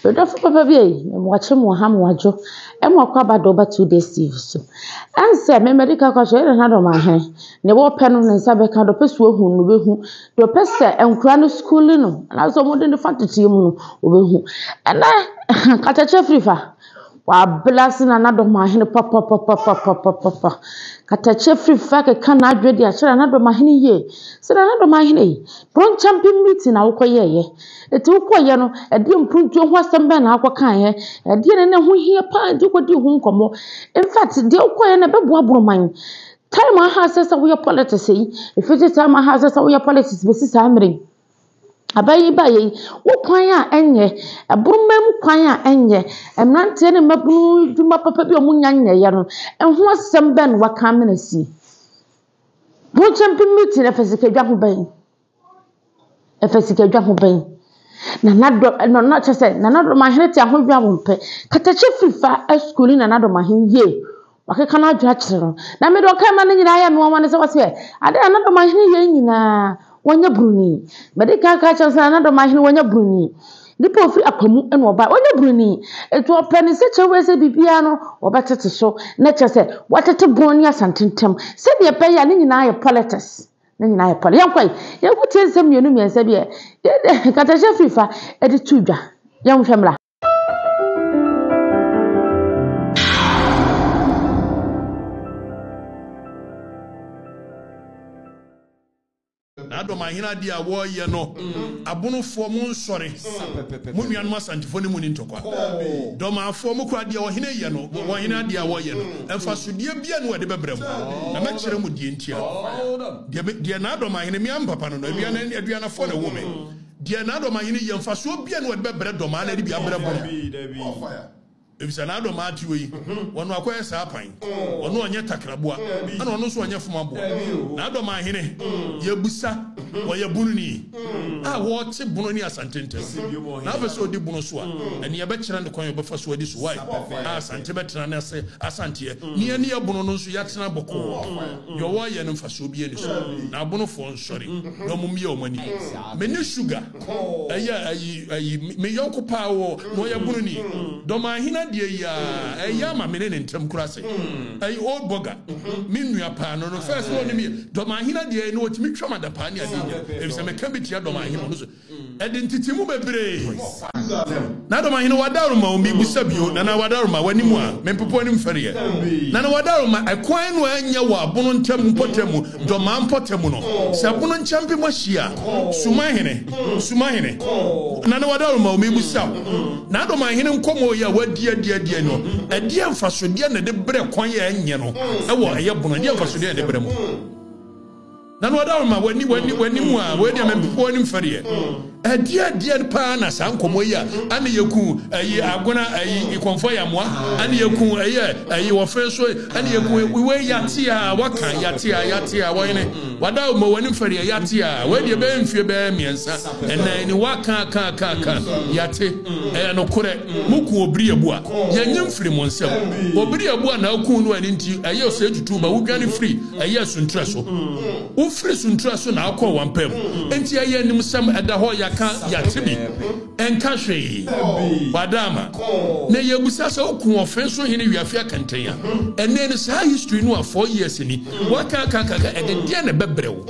Medɔfo papa bi ei, me moakye moaha moadwo e moakɔ aba do ba two days TV so ɛn sɛ me mɛde ka kɔakyerɛ e nana dɔm ahe ne wɔpɛ no ne nsa bɛka de ɔpɛ sɛ ohu no obehu de ɔpɛ sɛ nkora no schooling no anaasɛ wɔde no fa teteɛ mu no obehu ɛnɛ ɛhɛ kakyɛkyɛ firi fa. W'abla ase na n'adɔm ahene papapapapapapapa Katakyɛ firi fɛ akeka n'adwene de akyerɛ n'adɔm ahene yie Sɛ n'adɔm ahene yi, Brɔnkyampe meeting na wokɔ yɛɛyɛ Enti wokɔɔ yɛ no, ɛdeɛ mpuntuo ho asɛm bɛn na wokɔ kaa yɛ Ɛdeɛ na na ɛho hia paa enti wokɔ dii ho nkɔmɔ In fact, deɛ wokɔɔ yɛ no ɛbɛboa Borɔman Time aha sɛ sɛ woyɛ politics yi, ɛfiri sɛ time aha sɛ sɛ woyɛ politics bɛsi saa mmerɛ yi. Abayiba yi, wo kwan a ɛnyɛ, ɛboma mu kwan a ɛnyɛ, mmeranteɛ ne mmabunu adwuma papa bi a wɔnnya nyɛeɛ no, ɛho asɛm bɛn na wɔaka amena sie? Mokyɛmpe meeting no, ɛfa sikadwa ho bɛn? Ɛfa sikadwa ho bɛn? Nana Addo, Nana kyerɛ sɛ Nana Adomahene te ahohwi a wɔmpɛ. Katakye Fifa asukuu ne Nana Adomahene yie. Wakeka n'adwene akyerɛ no, na mede ɔkra mma no nyinaa ayɛ me nwanwa ne sɛ wɔseɛ, Adɛn na n'adomahene yei nyinaa wɔnyɛ broni? Mede kan ka kyerɛ no sɛ na n'adomahene wɔnyɛ broni. Nipa ɔfiri akwa mu na ɔbae, ɔnyɛ broni. Enti ɔpɛ ne sɛkyɛ wei sɛ biribiara no wɔbɛtete so, na kyerɛ sɛ wɔatete Bon ne Asante ntam sɛdeɛ ɛbɛyɛ a ne nyinaa yɛ politics, ne nyinaa yɛ poli. Yɛnkɔ ɛ, yɛnkɔtie nsɛm mmienu mmiɛnsa bi a Nkatahyɛ firi fa de to dwa, yɛnhwɛ mmra. adɔm ahene adeɛ a wɔreyɛ no abonofoɔ mo nsɔre mo nuanom asantefoɔ ne mu ne ntɔkwa dɔmaafoɔ mo kora deɛ ɔhene yɛ no ɔhene adeɛ a wɔreyɛ no mfasodeɛ bia ne wɔde bɛbrɛ mo na mɛkyerɛ mo deɛ ntia deɛ n'adɔm ahene me ampapa no no aduanafoɔ na ɛwɔ me Deɛ n'adɔmmaeɛ no yɛ, mfasoɔ bia ne wɔde bɛbrɛ dɔmmaa no de bi abrɛ bono, efisɛ n'adɔmmaa te wei, ɔno akɔyɛ saa pan, ɔno ɔnyɛ takraboa, ɛna ɔno nso ɔnyɛ fomaboa, n'adɔmmaa hene, yɛbisa, ɔyɛ bononi a ɔte bono ne asante ntam, na afei sɛ ɔdi bono so a, ɛneɛ yɛbɛkyerɛ no kwan a ɔbɛfa so adi so, wai, a asante bɛtena ne ase, asanteɛ, ne yɛneɛ bono no nso yɛatena bɔkɔɔ, deɛ ɔwɔ yɛ no mfasoɔ bia nni so, na abonofoɔ nso. sɔre na ɔmo mmea ɔmo ani. Me ne Sugar ɛyɛ ayi ayi me yɔnko paa wɔ na ɔyɛ bununi. Dɔmaahene adeɛ yi aa ɛyɛ ama me ne ne ntɛm kura ase. Ɛyɛ old bɔga me nua paa no no first na ɔnim yɛ Dɔmaahene adeɛ yi na ɔtumi twam adapaa ne adeɛ nyina efisɛ me ka bi tia Dɔmaahene ɔno so ɛde ntete mu bebree na dɔm ahene wadaworo ma wɔn bisa bio na na wadaworo ma w'anim a mempepo anim fɛreɛ na na wadaworo ma ɛkwan no anyɛ wɔ abono ntam mpɔtam mu dɔmaa mpɔtam no sɛ abono nkyɛmpem ahyia suma ahene suma ahene na na wadaworo ma wɔn bisa na dɔm ahene nkɔmɔ yɛ a wadi adi adi no ɛdeɛ mfasodeɛ na ɛde brɛ kwan yɛ ɛnyɛ no ɛwɔ ɛyɛ bono ɛdeɛ mfasodeɛ na ɛde brɛ mu Na na ɔda hɔ ma w'ani w'ani w'ani mu a wei deɛ mempɛ wɔn anim fɛreɛ. Ɛdeɛ ɛdeɛ paa na saa nkɔmmɔ yi a ɛne yɛku ɛyi agona ɛyi ikɔnfɔ yamoa ɛne yɛku ɛyɛ ɛyi wɔfrɛ so ɛne yɛku wei yate a waka yate a yate a wɔyene wada hɔ ma w'anim fɛreɛ yate a wei deɛ bɛyɛ mfie bɛyɛ mmiɛnsa ɛnan ni waka aka aka aka yate ɛyɛ nokorɛ moku obiri abua yɛnye mfiri mo nsam obiri abua na aku no ɛne nti ɛyɛ sɛ tutu ma wodwane firi Ɛyɛ asuntra so. Wofiri suntra so na akɔ wampam. Enti ɛyɛ animsɛm, ɛda hɔ, yɛaka, yɛate bi. Ɛnka hwee. Wadaama. Na yɛbisa sɛ, Oku ɔfe so hene wiafe akɛntɛn a, ɛnnɛ ni, saa history no a four years ni, woakaakaakaka, ɛdedeɛn na ɛbɛbrɛ wo?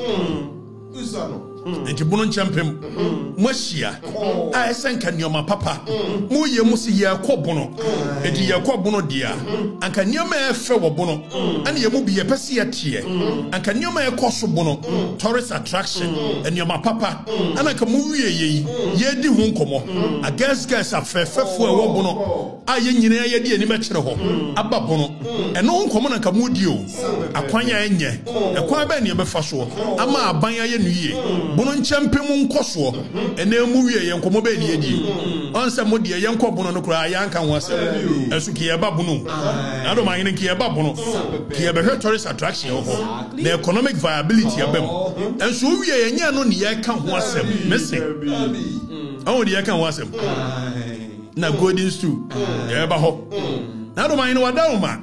Enti bunu nkyɛ mpem moahyia a ɛsɛ nka nneɛma papa moyɛ mu sɛ yɛrekɔ bono. Enti yɛrekɔ bono deɛ a, anka nneɛma a ɛfɛ wɔ bono ɛne yɛn mu bi yɛpɛ sɛ yɛteɛ. Anka nneɛma a ɛkɔ so bono, tourist attraction, nneɛma papa ɛna anka mowie yei yɛredi ho nkɔmmɔ. Agɛsgɛs afɛɛfɛfoɔ a ɛwɔ bono. a yɛn nyinaa yɛde yɛn anim akyerɛ hɔ aba pono. Ɛno ho nkɔmmɔ na nka moredi o. Akwan a ɛnyɛ, ɛkwan bɛn na yɛbɛfa soɔ ama aban ayɛ no yie? Bono nkyɛmpem mu nkɔsoɔ, ɛnɛ emu wieɛ, nkɔmmɔ bɛn na yɛdie? Ɔn sɛ mo deɛ, yɛnkɔ bono no koraa yɛanka ho asɛm. Ɛso nka yɛba bono o. Nadom ahene nka yɛba bono, nka yɛbɛhwɛ tourist attraction wɔ hɔ, na economic viability aba mu. Ɛnso owieɛ, ɛnyɛ ɛno na yɛreka ho asɛm. Mese, ɔho deɛ yɛka ho asɛm. na golden stool yɛbɛba hɔ na adom ahene wada wo ma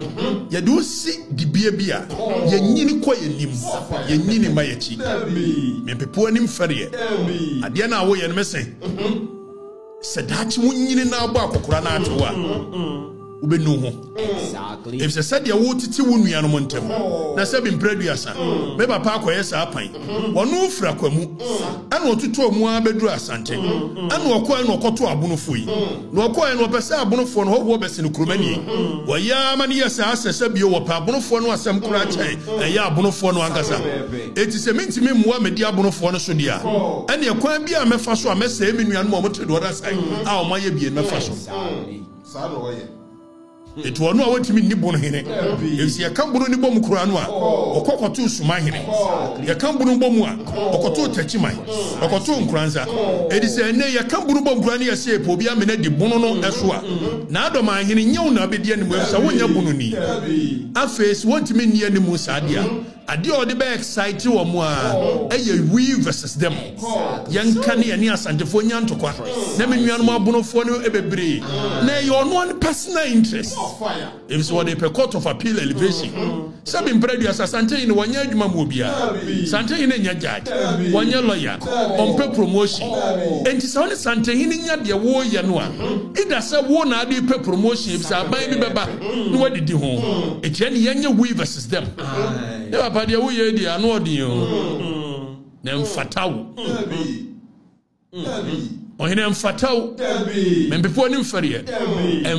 yɛde wo si dibea bi a yɛnyini kɔ yɛnim yɛnyini ma yɛkyi mempepo anim fɛreɛ adeɛ no a woyɛ no mese sɛ daakye wonyini na abɔ akɔkora no atewo a wobɛnu ho Efisɛ sɛdeɛ wotete wo nuanom ntam, na sɛ bi mprɛ aduasa, me papa akɔyɛ saa pan. Ɔno firi akwamu, ɛna ɔtotɔɔ mu ara bɛduru asante, ɛna ɔkɔɛ na ɔkɔtɔ abonofoɔ yi. Na ɔkɔɛ no, ɔpɛ sɛ abonofoɔ no hɔhoɔ bɛsene kuromani. Wɔyɛ ara ma no yɛ saa sɛsɛ bio, wɔpɛ abonofoɔ no asɛm koraa kyɛn ɛyɛ abonofoɔ no ankasa. Enti sɛ mentumi mmoa medi abonofoɔ no so deɛ a, ɛneɛ kwan biara a mɛfa so a mɛsɛe me nuanom a wɔte deɛ ɔda sae a wɔayɛ bie no mɛfa so. Enti ɔno a wɔtumi nni bono hene. Enti yɛka bono ni bom koraa no a, ɔkɔ kɔtoo suma hene. Yɛka bono bom a, ɔkɔtoo takyiman. Ɔkɔtoo nkoransa. Edi sɛ ɛnɛ yɛka bono bom koraa ne yɛsɛ yɛpɛ obi amena di bono no ɛso a, n'adɔman hene, nyɛ wo na abedi animuam sɛ wonyɛ bono ni. Afei, sɛ wɔntumi nni animu saa deɛ a, Adeɛ a ɔde bɛ excite wɔn a yɛ we versus them. Yɛnka ne yɛne Asantefoɔ nya ntɔkwa na me nuanom abonofoɔ no bebree na ɛyɛ ɔno ne personal interest. Ɛfiri sɛ wɔde pɛ court of appeal elevation. Sɛ me mpere aduasa Asante Hene wɔnyɛ adwuma mu obiara. Sante Hene nyɛ judge, wɔnyɛ lawyer, ɔmpɛ promotion. Enti sɛ wo ne Sante Hene nya deɛ woyɛ no a, either sɛ wo na ade pɛ promotion ɛfiri sɛ aban bi bɛba na wadidi ho. Ɛkyerɛ ne yɛnyɛ we versus It's them. Ne papa deɛ woyɛ deɛ ano ɔden o. Na mfata wo. Ɔhene mfata wo. Mempepoɔ ne mfɛreɛ.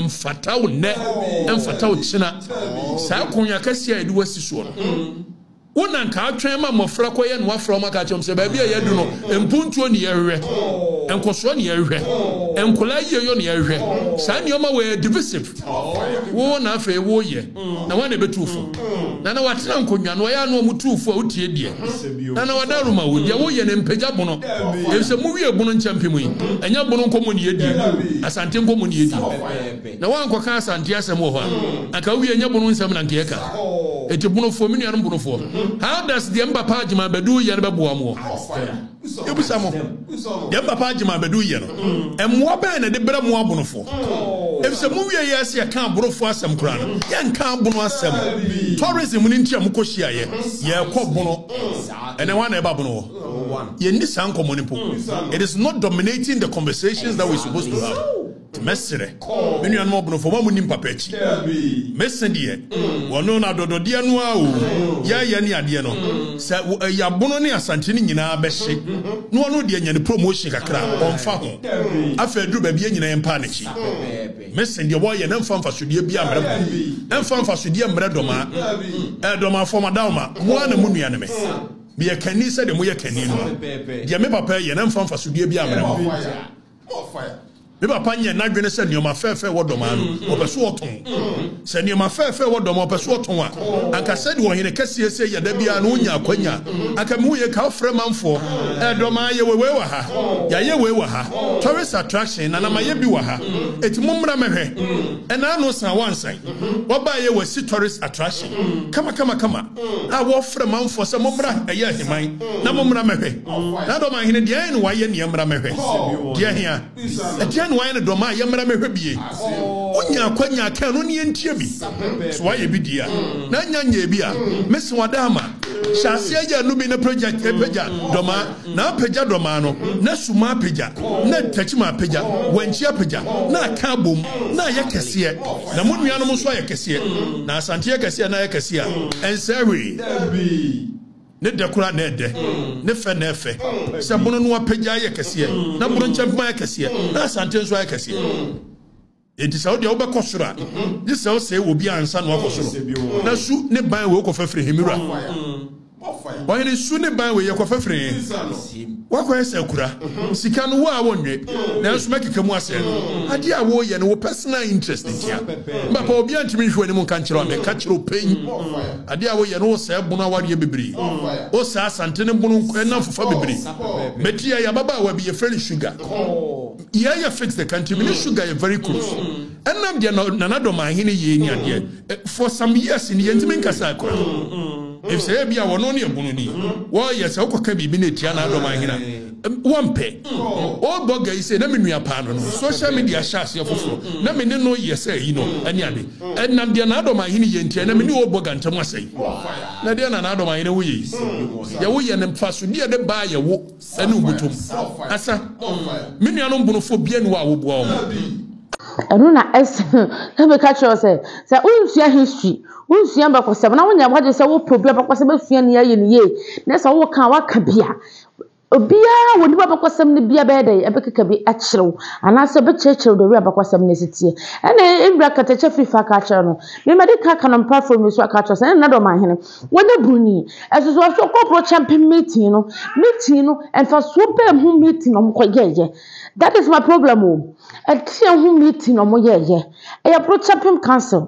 Mfata wo nnɛ. Mfata wo kyena. Saa akonnwa kɛseɛ a yɛde wasi soɔ no. Wo na nka atwɛn ma mmɔfra kɔyɛ no afra wɔn aka kyerɛ sɛ baabi a yɛadu no mpuntuo ne yɛhwɛ. Nkɔsoɔ ne yɛhwɛ. Nkɔla yieyɔ ne yɛhwɛ. Saa nneɛma wɔ yɛ divisive. Wo na afei woyɛ. na woana ɛbɛtu wo fo? Na na watena nkonnwa no, ɔyɛ a na wɔn tu wo fo a wotie deɛ na na wada roma wo, deɛ woyɛ no mpagya bono, efisɛ mowie bono nkyɛmpem yi, ɛnyɛ bono nkɔmmɔ na yɛdie, Asante nkɔmmɔ na yɛdie, na woankɔka Asante asɛm wɔ hɔ a, anka wowie, ɛnyɛ bono nsɛm na anka yɛka. Enti bonofoɔ, me nuanom bonofoɔ, how does deɛ me papa Agyeman Badu yɛ no bɛboa moɔ? Yebisa mo, deɛ papa agye ma abɛdu yɛ no, mmoa bɛn na ɛde brɛ mo abonofoɔ? Efisɛ mo wie yɛ ɛsɛ yɛka abonofoɔ asɛm koraa no, yɛnka abono asɛm. Tourism no nti a mokɔ hyiayɛ, yɛkɔ bono. Ɛnɛ hwan na ɛba bono hɔ? Yɛnni saa nkɔmmɔ no mpo. It is not dominating the conversations that we supposed to have. Mɛserɛ, me nuanom ɔbnofo, mo a munnim papa akyi, mese deɛ wɔno no adɔdɔdeɛ no ara o, yɛɛyɛ ne adeɛ no, sɛ wɔ Ayiabono ne Asante no nyinaa bɛhye na ɔno deɛ nya ne promotion kakra a, ɔmfa ho. Afei aduru baabi yɛn nyinaa yɛmpaa n'akyi. Mese deɛ wɔɔyɛ no mfa mfasodeɛ biara mmrɛ mo, mfa mfasodeɛ mmrɛ Dɔmaa. Ɛɛ Dɔmaa fam Adaoma, mo ara na mo nua ne me. Meyɛ kanni sɛdeɛ moyɛ kanni no ara. Deɛ me papa ɛɛyɛ no mfa mfasodeɛ biara mmrɛ mo. Me papa nyɛ n'adwene sɛ nneɛma fɛɛfɛ wɔ dɔm ano, ɔpɛ so ɔtɔn. Sɛ nneɛma fɛɛfɛ wɔ dɔm ɔpɛ so ɔtɔn a, anka sɛdeɛ ɔhene kɛseɛ sɛ yɛ da biara no wonya akwanya. Anka mehu yɛ ka ɔfrɛ manfoɔ, eh, dɔm a yɛwɔ wei wɔ ha, yɛayɛ wei wɔ ha, tourist attraction, nana mayɛ bi wɔ ha, eti mommra mɛhwɛ. Ɛnaa no san wansan, wabaeɛ wasi tourist attraction. Kama kama kama. Na wɔfrɛ manfoɔ sɛ, Mommra, ɛyɛ aheman, na mommra mmɛhwɛ. Na dɔm a hene deɛn na wayɛ neɛ mmra mmɛhwɛ? Deɛ he a ɛdeɛn na wayɛ ne dɔm a yɛmmra mmɛhwɛ bie? Wonya akwanya a, ka ɛno ne yɛntie bi. Sɛ wayɛ bi deɛ a, na nya nyɛɛ bi a, mese wada ama. Hyɛ aseɛ yɛ ɛno bi na pagya dɔm a. Na apagya dɔ maa no, na suma apagya, na ntakyima apagya, wankyi apagya, na aka abom, na ayɛ kɛseɛ, na mo nuanom nso ayɛ kɛseɛ. Na Asante yɛ kɛseɛ, na ayɛ kɛseɛ a ɛnsɛe hwee. Ne dɛ koraa na ɛdɛ, ne fɛ na ɛfɛ, sɛ mono no apagya ayɛ kɛseɛ, na mono nkyɛmpem ayɛ kɛseɛ, na Asante nso ayɛ kɛseɛ. Enti sɛ wo deɛ wobɛkɔ soro a, gye sɛ wosɛe obi ansa na woakɔ soro. Na su ne ban wei kɔfa firi he, me wura? Ɔhene, su ne ban wei yɛkɔfa firi he? Woakɔyɛ sɛ akura. Sika no, wo a wonnwe. Nanso mɛkeka mu asɛe no. Adeɛ a woreyɛ no, wo personal interest ntia. M'papa, obiara ntumi nhwe w'anim nka nkyerɛ wo a meka kyerɛ wo pɛn. Adeɛ a woreyɛ no, wosɛe bono awareɛ bebree. Wosɛe Asante no bono nko, ɛnam fofa bebree. Bɛti yɛ, yɛ ababaawa bi, yɛfrɛ no Sugar. Yɛ yɛ fix the country me ne sugar yɛ very close ɛnam deɛ na nana dɔm ahene yie ni adeɛ eh, for some years ni yɛn ti mi nkasa akora efisɛ ebi a wɔn ne ɛbunu ni wɔyɛ sɛ ɔkɔ ka biribi na etia na adɔm ahene wɔn pɛ ɔbɔ gɛyi sɛ na mi nua paa no no social media hyɛ aseɛ foforɔ na mi ne no yɛ sɛ yi no ɛne ade ɛnam deɛ na adɔm ahene yɛ ntia na mi ne ɔbɔ gantɛm asɛyi na deɛ na na adɔm ahene wo yɛ yi yɛ wo yɛ ne nfa so deɛ de baa yɛ wo. Ɛne wo botom asa. Me nuanom bonofoɔ biara nni hɔ a woboa wɔn. Ɛno na ɛsɛ meka kyerɛ wo sɛ, sɛ wonsua history, wonsua abakɔsɛm na wonyɛ w'adwene sɛ wopɛ obi abakɔsɛm asua nea ayɛ no yie na sɛ woka a waka bi a, obiara a ɔnim abakɔsɛm no biara bɛyɛ dɛn? Ɛbɛkeka bi akyerɛ wo anaasɛ ɛbɛkyerɛkyerɛ wo the way abakɔsɛm no si teɛ. Ɛna Mbra Katakyɛ Fifa ka kyerɛ no, memadi ka ka no mpa fam yi so aka kyerɛ sɛ, ɛna Nado Ɔmanhene Wɔ ne Bruni nsusuasuo kɔkɔɔ champion meeting no meeting no mfasoɔ bɛn ho meeting na wɔkɔ yɛɛyɛ that is my problem o ɛdeɛn ho meeting na wɔyɛ yɛ ɛyɛ bro champion council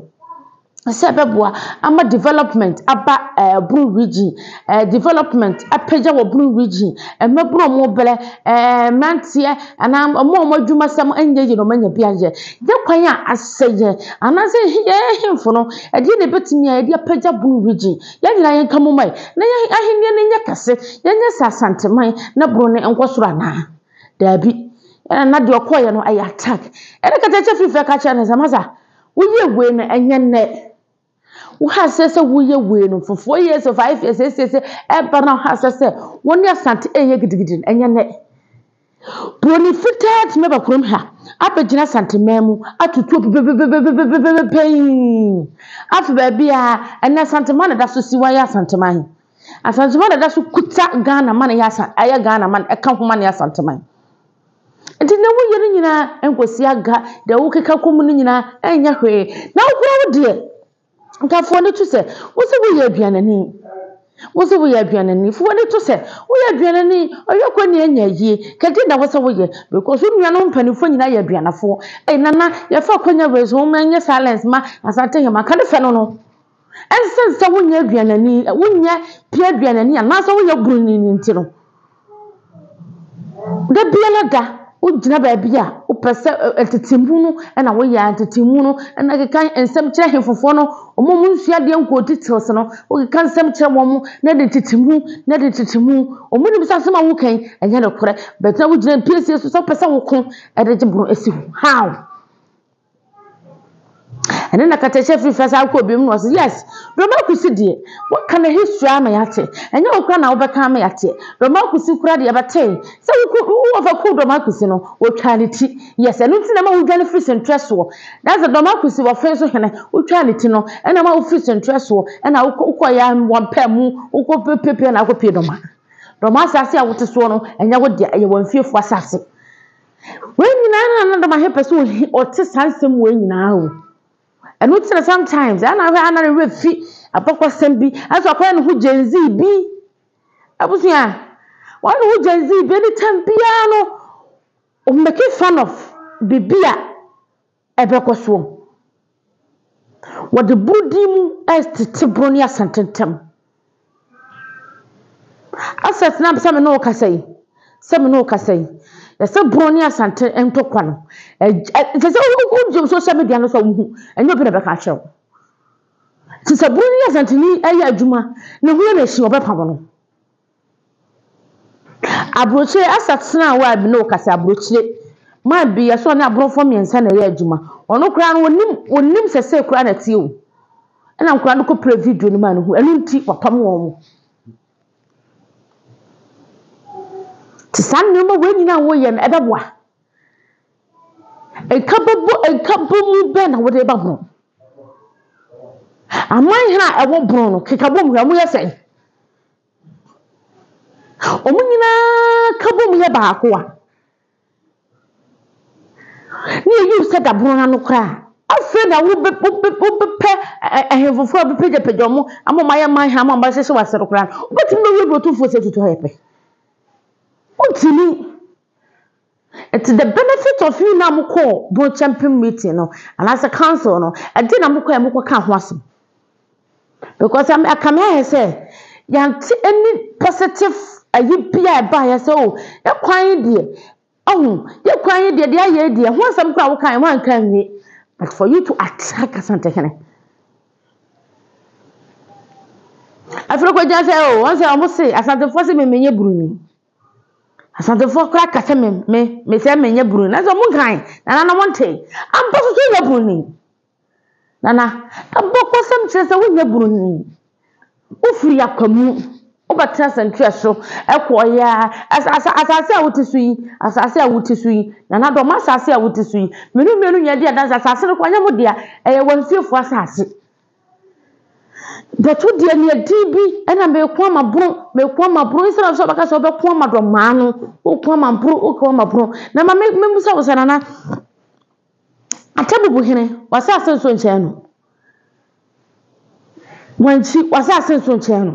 sɛ ɛbɛboa ama development aba ɛɛ eh, bro region ɛɛ eh, development apagya wɔ bro region mmɛboro wɔn brɛ ɛɛ eh, mmeranteɛ anaa wɔn a wɔn adwuma sɛm nyɛ yie na wɔn anya bi ayɛ yɛ kwan a asɛ yɛ anaasɛ yɛn hemfo no Ɛdeɛn na yɛbɛtumi ayɛ de apagya Bono Region? Yɛn nyinaa yɛnka mu mma na yɛn ahennie no nyɛ kɛse, yɛnyɛ sɛ Asanteman na Bono no nkɔ soro anaa? Daabi. Ɛna na deɛ ɔkɔeɛ no ɛyɛ attack. Ɛna Katakyɛ firi fɛ ka kyerɛɛ no sɛ, Masa, woyɛɛ wei no ɛnyɛ nnɛ. Woha aseɛ sɛ woreyɛ wei no for four years or five years, seesei sɛ ɛreba no woha aseɛ sɛ wo ne Asante reyɛ gidigidi no ɛnyɛ nnɛ. Buroni fitaa tumi aba kurom ha abɛgyina Asanteman mu atutu obi pefepefepefepefepefepepepe Afei baabi a ɛnnɛ Asanteman na ɛda so si hɔ ayɛ Asanteman he. Asanteman na ɛda so kuta Ghana ma no yɛ Asan ɛyɛ Ghana ma no ɛka ho ma no yɛ Asanteman. Nti deɛ woyɛ no nyinaa nkɔsi aga, deɛ wokeka kɔ mu no nyinaa ɛnyɛ hwee. Na wo koraa wo deɛ Nka fa w'ani to sɛ wose woyɛ aduanani. Wose woyɛ aduanani. Fa w'ani to sɛ woyɛ aduanani. Ɔyɛ kɔ nea ɛnyɛ yie. Kɛgye na wose woyɛ because wo nuanom mpanimfoɔ nyinaa yɛ aduanafoɔ. Ei Nana, yɛfa akwanya wei so, momma yɛnyɛ silence mma Asanteheman. Ka ne fɛ no no. Ɛnsiane sɛ wonyɛ aduanani, wonyɛ pie aduanani anaasɛ woyɛ buroni no nti no, Da biara da, wogyina baabi a wopɛ sɛ ntetemu no na woyɛ a, ntetemu no na keka nsɛm kyerɛ ahefofoɔ no, wɔn a wɔnsua adeɛ nkɔɔ details no, wokeka nsɛm kyerɛ wɔn na ɛde ntetemu na ɛde ntetemu. Wɔnim sɛ asɛm a woreka yi, ɛnyɛ nokorɛ but na wogyina mpiesie so sɛ wopɛ sɛ woko de gye boro si hɔ. How? Ɛno na Katahyɛ firi first akɔ obiem na ɔse yes Romakusi deɛ waka ne history ama yɛate ɛnyɛ wo koraa na wobɛka ama yɛateɛ Romakusi koraa deɛ yɛbɛtee sɛ woko wowɔ fɛ koo Romakusi no wɔtwaa ne ti yes ɛno nti na ɛma wodwane firi sentrɛ soɔ that's it Romakusi wɔfee so hene wotwaa ne ti no ɛna ɛma wofiri sentrɛ soɔ ɛna wokɔ wokɔeɛ a wɔn pɛɛ mu wokɔ piapia na akɔpie Roma Roma asase a wote soɔ no ɛnyɛ wo dea ɛyɛ wɔn fiefoɔ asase Wei nyinaa na na dɔm ahepɛ sɛ ohi ɔte saa nsɛm wei nyinaa o. Ɛno nti na sometimes ɛna ahwɛ ana ne werɛ fi abakɔsɛm bi ɛsɛ ɔkɔyɛ ne ho Gen Z bi. Abusua, wɔyɛ ne ho Gen Z bi anytime biara no ɔmmɛke fun of biribi a Ɛbɛkɔ soɔ. Wɔde borɔdin mu retete borɔ ne asante ntam. Asɛ tena ase sɛ me ne wo kasa yi, sɛ me ne wo kasa yi, yɛsɛ borɔ ne asante ntɔkwa no, ɛsɛ sɛ wogyina social media no so a wohu, ɛnyɛ obi na ɛbɛka akyerɛ wo. Nti sɛ borɔ ne asanteni ɛyɛ adwuma, ne ho yɛ no ahyi a, wɔbɛpamo no. Abrokyire asatenaa a wɔa bi na ɔkasa abrokyire maa bi yɛ sɛ ɔne abrɔfo mmiɛnsa na ɛyɛ adwuma ɔno koraa no ɔnim ɔnim sɛ sei koraa na ɛteɛ o ɛna nkwadaa no kɔ play video no maa no hu ɛno nti wapam wɔn te saa nnoɔma wei nyinaa a wɔyɛ no ɛbɛboa nka bɛbɔ nka bɔ mu bɛn na wɔde ba ho aman hene a ɛwɔ borɔn no keka bom hwɛ wɔyɛ sɛn. Wɔn nyinaa ka bom yɛ baako a, na eyi resɛ daboro ano koraa. Afei na wobɛ wobɛ wobɛpɛ ɛhɛn foforɔ a bɛpagyapagya wɔn ama wɔn ayɛ man hɛn ama wɔahyehyɛ wɔ ase no koraa no, wobɛtumi bɛwura burotomfoɔ sɛ tutu hɔ yɛ pɛ. Wontumi. Ntsi the benefit of me na mokɔɔ Bontsemmpem meeting no anaasɛ council no, ɛdze na mokɔɛ mokɔkaa ho asɛm. Because a anka mɛyɛ sɛ yɛanntse any positive ayi bi a ɛbaeɛ sɛ oh yɛ kwan yi deɛ, ohu, yɛ kwan yi deɛ deɛ ayɛ yi deɛ, ho asɛm koraa a wokaeɛ woannka anwie. But for you to attack Asantehene. Afei no kɔgyina sɛ oh wɔn sɛ wɔn se Asantefoɔ se me menyɛ Buroni. Asantefoɔ koraa ka sɛ me me me sɛ menyɛ buroni nanso wɔn nkan nana no wɔn te ampa so sɛ nyɛ buroni nana abɔkɔsɛm kyerɛ sɛ wonyɛ buroni wofiri akwamu wobɛtena santwea so ɛkɔɔyɛ asa asa asase a wote so yi asase a wote so yi nana dɔm asase a wote so yi menu mmienu nyɛ di adanse asase no kɔ nyɛ mo dea ɛyɛ wɔn fiefoɔ asase. Bɛto deɛ nea ɛdin bi ɛna mɛko ama boro mɛko ama boro instead of sɛ ɔbɛka sɛ ɔbɛko ama dɔmaa no ɔko ama boro ɔko ama boro na ma mɛbisa wo sɛ nana atɛbubu hene w'asaase nso nkyɛn no wankyi w'asaase nso nkyɛn no.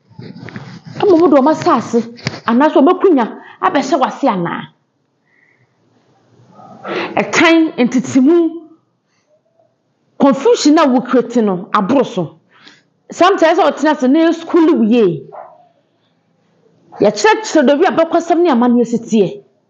Mmom de wɔn asase anaasɛ wɔn akunya abɛhyɛ w'ase anaa? Ɛtan, ntetemu, confusion a wo create no aboro so. Sometimes ɛsɛ sɛ ɔtena ase na yɛ school wo yie. Yɛkyerɛkyerɛ baabi a abakɔsɛm ne amanneɛ si teɛ.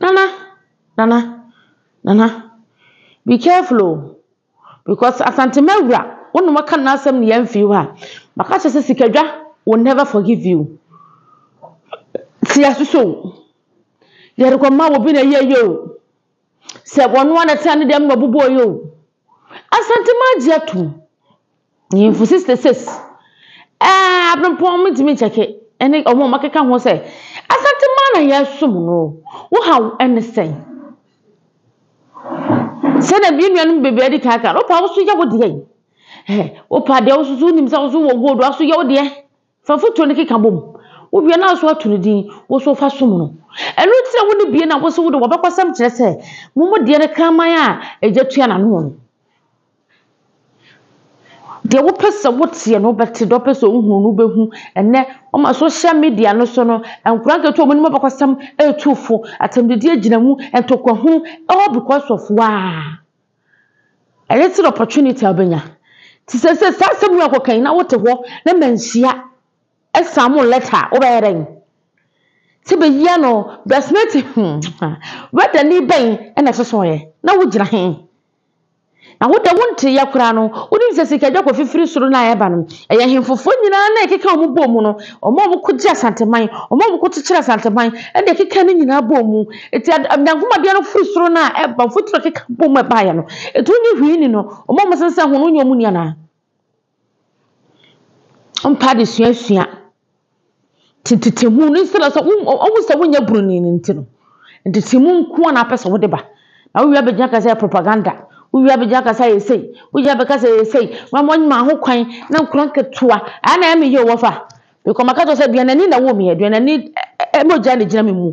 Nana, Nana, Nana, be careful o, because Asantema wura, wo ne wɔka no asɛm na yɛamfiri hɔ a, maka akyerɛ sɛ Sikadwa will never forgive you. Te yɛaso so o, yɛrekɔma wo bi na ɛyɛ yie o, sɛ wɔn ara na ɛtena ne dɛm na ɔbobɔɔ yɛ o, Asantema agye atom. Nyimfo sixty six a aberempɔn midzii me kyɛke ne hɔn a wɔakeka ho sɛ, Asantse man na yɛsom no o, wo haw ne sɛn? Sɛnea me nuanom bebree a wɔadi kan aka no, wopa a, wo so yɛ wo deɛ. Wopa deɛ, wo so so wonim sɛ wo so wɔ gold a, wo so yɛ wo deɛ. Fa fotuo no keka bom. Wo wie no aso ato no din, wo nso fa som no. Ɛno nti na wo ne bie no a wo se wo de wo abakɔsɛm kyerɛ sɛ mo mo deɛ no kraman a agya tua n'ano no. Deɛ wo pɛ sɛ wo teɛ no wo bɛte, deɛ wo pɛ sɛ wo hunu no wo bɛhu. Ɛnɛ wɔma social media no so no, nkwadaa nketewa a wɔnim abakɔsɛm retu fo, atɛmdidie gyina mu, ntɔkwahunu, all because of woaa. A little opportunity a wobɛnya. Nti seesei saa asɛm wei a wokɔka yi na wote hɔ na manhyia ɛsamo lɛta a, wobɛyɛ dɛn? Sɛ bɛyia no bɛsmɛte hmm ha, wɛdani bɛn na ɛsosɔeɛ? Na wogyina he? Na wo deɛ wonteeɛ koraa no, wonim sɛ sika dwa kɔfe firi soro no a ɛba no, ɛyɛ hemfofoɔ nyinaa na ɛkeka wɔn bɔɔ mu no, wɔn a wɔkɔgye Asanteman, wɔn a wɔkɔkyekyere Asanteman, ɛna ɛkeka ne nyinaa bɔɔ mu. Enti ad Onyankopɔn adeɛ no firi soro no a ɛba mfuturo keka bɔ mu ɛbaeɛ no, ɛtu nye hwee ni no, wɔn a wɔsensɛn ho no wonyɛ wɔn ni anaa? Wɔmpɛ adesuasua tetehunu no instead of sɛ wo wɔhu sɛ wonyɛ buroni no nti no, ntetehemu nko ara na wopɛ sɛ wode ba. Na wowie abɛgyina aka sɛ ɛyɛ propaganda, wowie abɛgyina aka sɛ ɛyɛ sei, wowie abɛka sɛ ɛyɛ sei, wɔn a wɔnyaa ho kwan na nkwadaa nketewa, ɛha na ɛyɛ me yie o wɔfa. Mekɔ maka kyerɛ sɛ aduanani na woo me, aduanani mogya na ɛgyina me mu.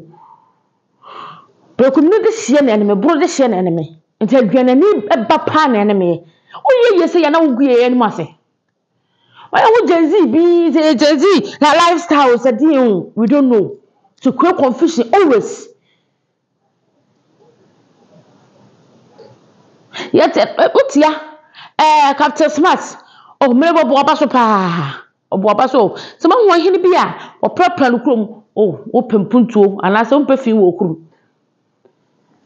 Prekumni de hyeɛ na ɛne me, boro de hyeɛ na ɛne me. Nti aduanani ba paa na ɛne me. Woyɛ yie sɛ yɛ na wogu yɛn anim ase. Wayɛ ho Gen Z bi, sɛ yɛ Gen Z, na lifestyle sɛ deɛ o, we don't know. So create confusion always. Yɛte ɛ wotia ɛɛ Captain Smart. Oh mmrɛ bɔ ɔbɔ aba so paa. Ɔbɔ aba so. Sɛ moahu ɔhene bi a ɔprapra no kurom oh wopɛ mpuntuo anaasɛ wompɛ fi wɔ kurom.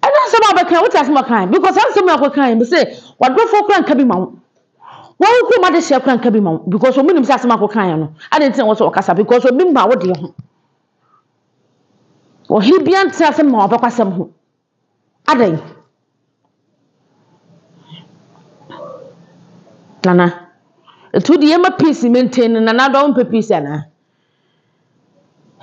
Ɛna asɛm a ɔbɛka wote asɛm a ɔkae because saa asɛm a ɔkɔkae me se wadɔfoɔ koraa nka bi ma wo. Wɔn wo kurom adehyeɛ koraa nka bi ma wo because wɔn nim sɛ asɛm a ɔkɔkaeɛ no adɛn nti na wɔn sɛ ɔkasa because obi mma wo deɛ ho. Ɔhene biara nte asɛm ma w'abakɔsɛm ho. Adɛn? Nana, nti wode yɛma peace maintain no, Nana Addo wompɛ peace anaa?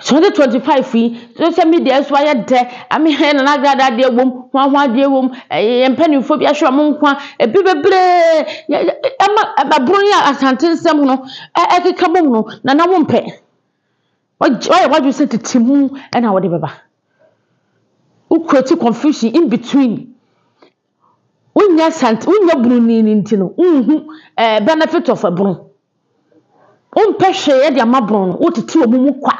2025 yi, social media yi so ayɛ dɛ, ame hɛ Nana Agrada adeɛ wom, hwan hwan adeɛ wom, ɛɛ yɛn mpanimfoɔ bi ahwere wɔn nkwa, ebi bebree, yɛ yɛ ɛma ɛboro yi a Asante nsɛm no ɛ ɛkeka bom no, Nana wompɛ. W'adwe w'ayɛ w'adwene sɛ tete mu na wode bɛba. Wo create confusion in between. Wonnya sant wonnya bunu ni no nti no wonhu eh benefit of ɛbono. Wompɛ hwee de ama bono no wotete ɔmo mu kwa.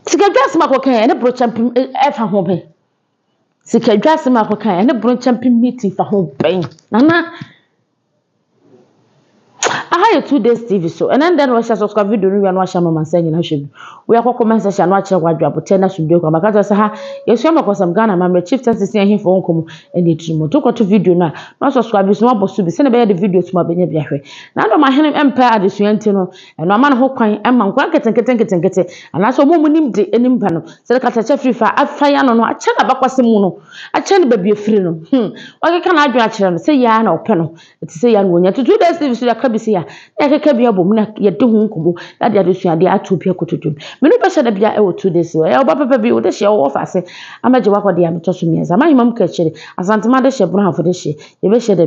Sikadwa asɛm a akɔka yi ɛne borokyɛ mpem ɛfa ho bɛn? Sikadwa asɛm a akɔka yi ɛne borokyɛ mpem meeting fa ho bɛn? Nana. Aha yɛ two days TV so. Ɛnɛ ndɛ na wɔahyɛ subscribe video no wia na wɔahyɛ ama mansa nyina hwɛ bi. Wia kɔ comment section na wɔakyerɛ wadwe aboterɛ na sumdue kwan. Bɛka kyerɛ sɛ ha yɛsua mɛkɔsɛm Ghana amammerɛ chief tɛnse sia ahemfo ho nkɔmmɔ ɛne atirimu. To kɔto video no a na subscribe bi so na wɔabɔ so bi sɛdeɛ ɛbɛyɛ de videos mu a bɛnya bi ahwɛ. Na dɔm ahene mpɛ adesua nti no Ɛno ama no ho kwan ma nkwadaa nketenkete nketenkete anaasɛ wɔn a wɔn nim de anim ba no sɛ de katakyɛ firi fa afa yɛ ano no akyɛ n'abakɔsɛm mu no akyɛ no baabi afiri no hmm wakeka n'adwene akyerɛ no sɛ yɛa na ɔpɛ no ɛte sɛ yɛa na wɔnya tutu da steve so yɛaka bi sɛ yɛa na yɛkeka bi abom na yɛde ho nkɔmmɔ na de adesuadeɛ ato bi akoto dwom menu bɛhyɛ da bia ɛwɔ two days ɛyɛ ɔba pɛpɛ bi wode hyɛ ɔwɔ fa ase amagye wakɔde ametɔ so mmiɛnsa mahema mu kakyire asantema de hyɛ borɔhafo de hyɛ yɛbɛhyɛ da bi